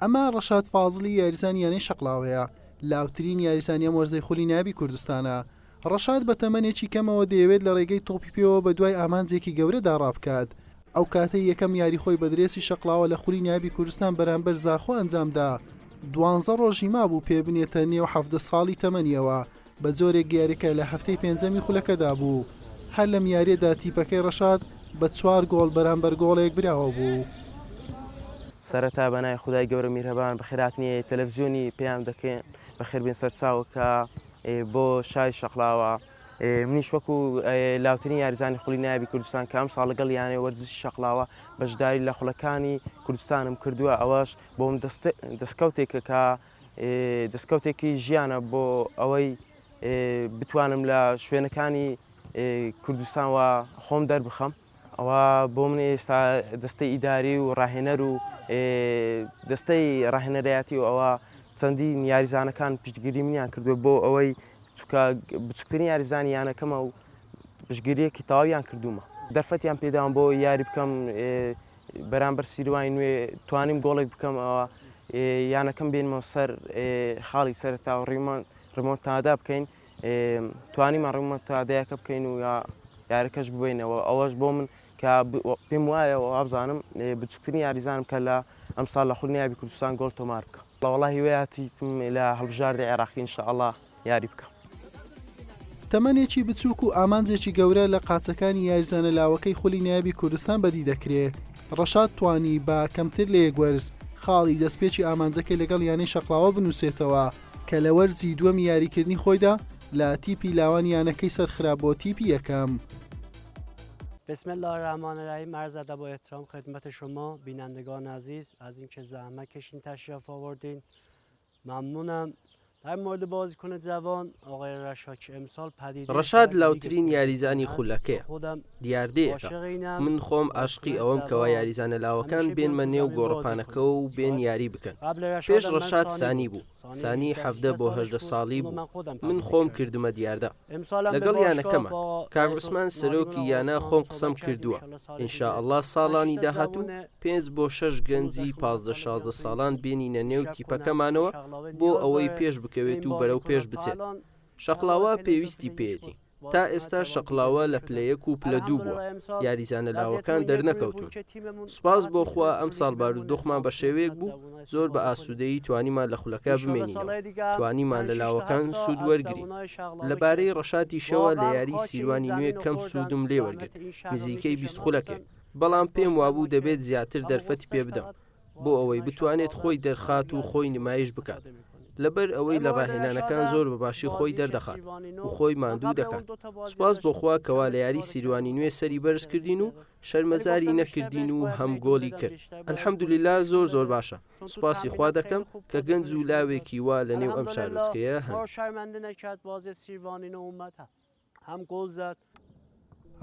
ئەمە ڕەشاد فازڵی یاریزانی یانەی شەقلاوەیە لاوترین یاریزانی ئەم وەرزەی خولی نابی کوردستانە ڕەشاد بە تەمەنێکی کەمەوە دەیەوێت لە ڕێگەی تۆپی پێوە بە دوای ئامانجێکی گەورەدا ڕابکات ئەو کاتەی یەکەم یاری خۆی بە درێسی شەقلاوە لە خولی نابی کوردستان بەرامبەر زاخۆ ئەنجامدا دوانزە ڕۆژی مابوو پێ بنێتە نێو حەفدە ساڵی تەمەنیەوە بە جۆرێک یارییەکە لە هەفتەی پێنجەمی خولەکەدا بوو، هەر لەم یارییەدا تیپەکەی رەشاد بە چوار گۆڵ بەرامبەر گۆڵێک براوە بوو. سەرەتا بە ناوی خودای گەورە میرهەبان بە خێرهاتنی تەلەفزیۆنی پەیام دەکەین بە خێربێن سەرچاوە کە بۆ شاری شەقڵاوە منیش وەکو لاوترین یاریزانی خولی نایبی کوردستان کە ئەمساڵ لەگەڵ یانەی وەرزشی شەقڵاوە بەشداری لە خولەکانی کوردستانم کردووە ئەوەش بۆم دەستکەوتێکە کە دەستکەوتێکی ژیانە بۆ ئەوەی بتوانم لە شوێنەکانی کوردستان و خۆم دەربخەم ئەوە بۆ من ئێستا دەستەی ئیداری و ڕاهێنەر و دەستەی ڕاهێنەرایەتی و ئەوە چەندی یاریزانەکان پشتگیری منیان کردو بۆ ئەوەی چکە بچکترین یاریزانی یانەکەمە و پشگیریەکی تاویان کردومە دەرفەتیان پێداوام بۆ یاری بکەم بەرامبەر سیروانی نوێ توانیم گۆڵێک بکەم ئەوا یانەکەم بێنمەوە سەر خاڵی سەرتا و ڕیمان ڕمۆنتادا بکەین توانیمان ڕمۆنتادەیەکە بکەین و یا یارەکەش ببینەوە ئەوەش بۆ من کە پێم وایە و ئابزانم بچکتنی یاریزانم کە لە ئەمساڵ لە خولنیابی کوردستان گۆڵ تۆمار بکە لەوەڵا هیوەیاتیتم لە هەڵبژاردە عێراقی انشاءله یاری بکە. تەمەنێکی بچووک و ئامانجێکی گەورە لە قاچەکانی یاریزانە لاوەکەی خولی نایابی کوردستان بەدی دەکرێ، ڕەشاد توانی بە کەمتر لە یەک وەرز خاڵی دەستپێکی ئامانجەکەی لەگەڵ یانەی شەقڵاوە بنووسێتەوە، کە لە وەرزی دووەمی یاریکردنی خۆیدا لە تیپی لاوان یانەکەی سەرخرا بۆ تیپی یەکەم. بسم الله الرحمن الرحیم عرض ادب و احترام خدمت شما بینندگان عزیز از اینکه زحمت کشین تشریف آوردین مەمنونم در مورد بازیکن جوان آقای رشاد که امسال پدیده ڕەشاد لاوترین یاریزانی خولەکەیە دیاردەیەکە من خۆم ئاشقی ئەوەم کەوا یاریزانە لاوەکان بێنمە نێو گۆڕەپانەکەوە و بێن یاری بکەن پێش ڕەشاد سانی بوو سانی حەڤدە بۆ هەژدە ساڵی بوو من خۆم کردمە دیاردە لەگەڵ یانەکەمان کاک عوسمان سەرۆکی یانە خۆم قسەم کردووە ئینشاءاللە ساڵانی داهاتوو پێنج بۆ شەش گەنجی پازدە شازدە ساڵان بێنینە نێو تیپەکەمانەوە بۆ ئەوەی پێش بکەوێت و بەرەو پێش بچێت شەقلاوە پێویستی پێێتی تا ئێستا شەقلاوە لە پلە یەک و پلە دوو بووە یاریزانە لاوەکان دەرنەکەوتون سوپاس بۆخوا ئەم ساڵ بارودۆخمان بە شێوەیەک بوو زۆر بە ئاسوودەیی توانیمان لە خولەکە بمێنینەوە، توانیمان لە لاوەکان سوود وەرگرین. لەبارەی ڕەشاتیشەوە لە یاریی سیروانی نوێ کەم سوودم لێ وەرگرت، نزیکەی بیست خولەکێک، بەڵام پێم وابوو دەبێت زیاتر دەرفەتی پێ بدەم بۆ ئەوەی بتوانێت خۆی دەرخات و خۆی نمایش بکات، لەبەر ئەوەی لە ڕاهێنانەکان زۆر بە باشی خۆی دەردەخات و خۆی ماندوو دەکات، سوپاس بۆ خوا کەوا لە یاریی سیروانی نوێ سەری بەرز کردین و شەرمەزاری نەکردین و هەم گۆڵی کرد الحمدللە زۆر زۆر باشە سوپاسی خوا دەکەم کە گەنج و لاوێکی وا لە نێو ئەم شارۆچکەیە هەن شەرمەندنە کرد بازێ سیروانی نەومەتە هەم گۆڵ زەد.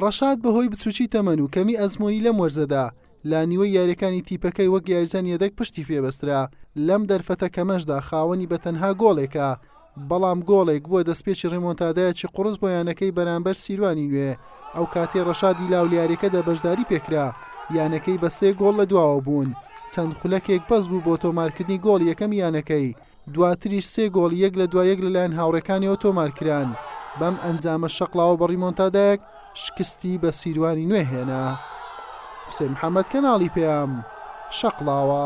ڕەشاد بەهۆی بچووکی تەمەن و کەمی ئەزموونی لەم وەرزەدا لە نیوەی یارییەکانی تیپەکەی وەک یاریزانی یەدەگ پشتی پێبەسترا، لەم دەرفەتە کەمەشدا خاوەنی بە تەنها گۆڵێکە، بەڵام گۆڵێک بووە دەستپێکی ڕیمۆنتادایەکی قوڕس بۆ یانەکەی بەرامبەر سیروانی نوێ، ئەوکاتەی ڕەشادی لاو لەیاریەکەدا بەشداری پێکرا یانەکەی بە سێ گۆڵ لە دواوە بوون چەند خولەکێک بەس بوو بۆ تۆمارکردنی گۆڵی یەکەمی یانەکەی، دواتریش سێ گۆڵی یەک لە دوای یەک لەلایەن هاوڕێکانیەوە تۆمارکران، بەم ئەنجامە شەقڵاوە بە ڕیمۆنتادایەک شکستی بە سیروانی نوێ هێنا. حوسێن محەمەد، کەناڵی پەیام، شەقڵاوە.